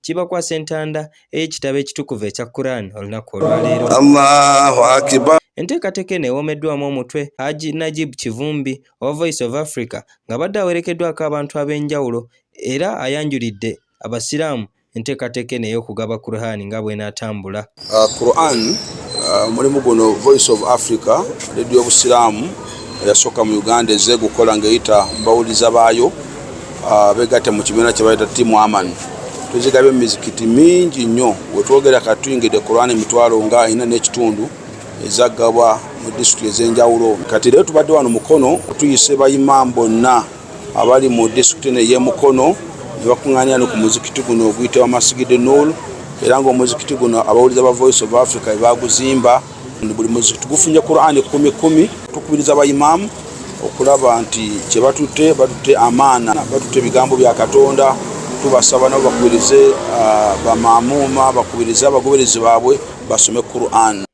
kibakwasa entanda ey'ekitabo ekitukuvu ekya Quran olunaku olwaleero. Allahu akibar. Enteekateeka eno ewoomeddwamu omutwe Haji Najib Kivumbi owa Voice of Africa ng'abadde awerekeddwako abantu ab'enjawulo era ayanjulidde Abasiraamu enteekateeka eno ey'okugaba Quran nga bw'enaatambula. Uh, Quran uh, mulimu guno Voice of Africa ledio obusiraamu eyasooka mu Uganda ezze gukola ng'eyita mbawuliza baayo uh, begatte mu kibiina kye bayita Team Aman tuzigabye mu mizikiti mingi nnyo wetwogera kati tuyingidde Quran emitwalo nga ina n'ekitundu ezagabwa mu disitulikiti ez'enjawulo kati leero tubadde wano mukono tuyise bayimaamu bonna abali mu disitulikiti eno ey'e Mukono ne bakuŋŋaanira no ku muzikiti guno oguyitibwa Masigidi Nuul era ng'omuzikiti guno abawuliza ba Voice of Africa be baaguzimba. Buli muzikiti gufunye Kuraani kkumi kkumi. Tukubiriza bayimaamu okulaba nti kye batutte batutte amaana, batutte ebigambo bya Katonda. Tubasaba nabo bakubirize ah, bamaamuuma, bakubirize abagoberezi baabwe basome Kuraani.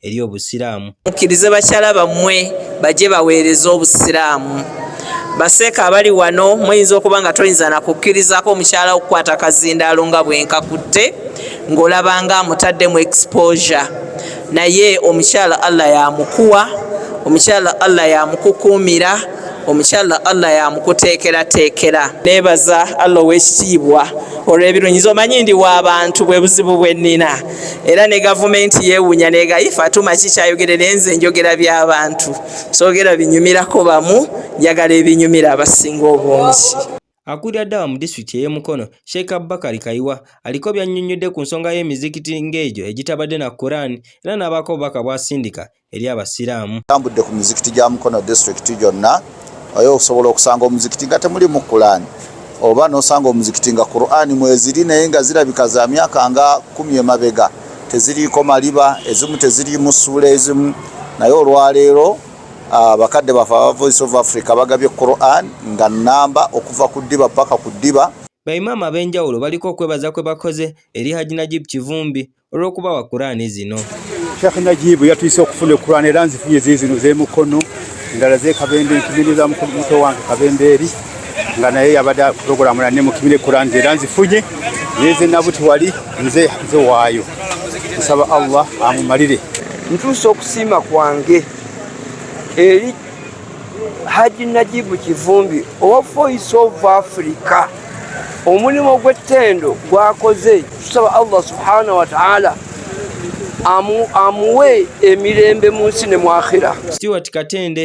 eri Obusiraamu. Mukkirize bakyala bammwe bajje baweereze Obusiraamu. Baseeka abali wano muyinza okuba nga toyinza na kukkirizaako mukyala wo kukwata kazindaalo nga bwe nkakutte ng'olaba nga amutaddemu exposure naye omukyala Allah yamukuwa omukyala Allah yamukukuumira omukyala Allah yamukuteekerateekera. Neebaza Allah ow'ekitiibwa olw'ebirungi nze omanyi ndi wa bantu bwe buzibu bwe nnina. era ne gavumenti yewunya negayi fatuma ki kyayogere naye nze njogera by'abantu soogera binyumirako bamu njagala ebinyumira abasinga obungi Akulira ddawa mu disitulikiti ey'e Mukono, Sheikh Abubakar Kayiwa aliko by'annyonnyodde ku nsonga y'emizikiti ng'egyo egitabadde na Quran era n'abaako obubaka bw'asindika eri Abasiraamu. Tambudde ku mizikiti gya Mukono District gyonna oyo okusobola okusanga omuzikiti nga temulimu Kulaani oba n'osanga omuzikiti nga Kuraani mweziri naye nga zirabika za myaka nga kumi emabega teziriiko maliba ezimu teziriimu ssuula ezimu naye olwaleero ah, bakadde baffe aba Voice of Africa bagabye Kuraani nga nnamba okuva ku ddiba paka ku ddiba. Baimaama ab'enjawulo baliko okwebaza kwe bakoze eri Hajji Najib Kivumbi olw'okubawa kuraani zino sheikh najibu yatuyise okufuna ekuraani era nzifunye ziri zino z'emukono endala z'ekabembe nkimini za muto wange kabembeeri nga naye yabadde puroguramu nane mukimire kuraani ze era nzifunye naye zenabuti wali nze nzewaayo nsaba allah amumalire ntuusa okusiima kwange eri haji najibu kivumbi owa voice of africa omulimu ogw'ettendo gwakoze tusaba allah subhanahu wataala amuwe emirembe mu nsi ne mwakhira stewart katende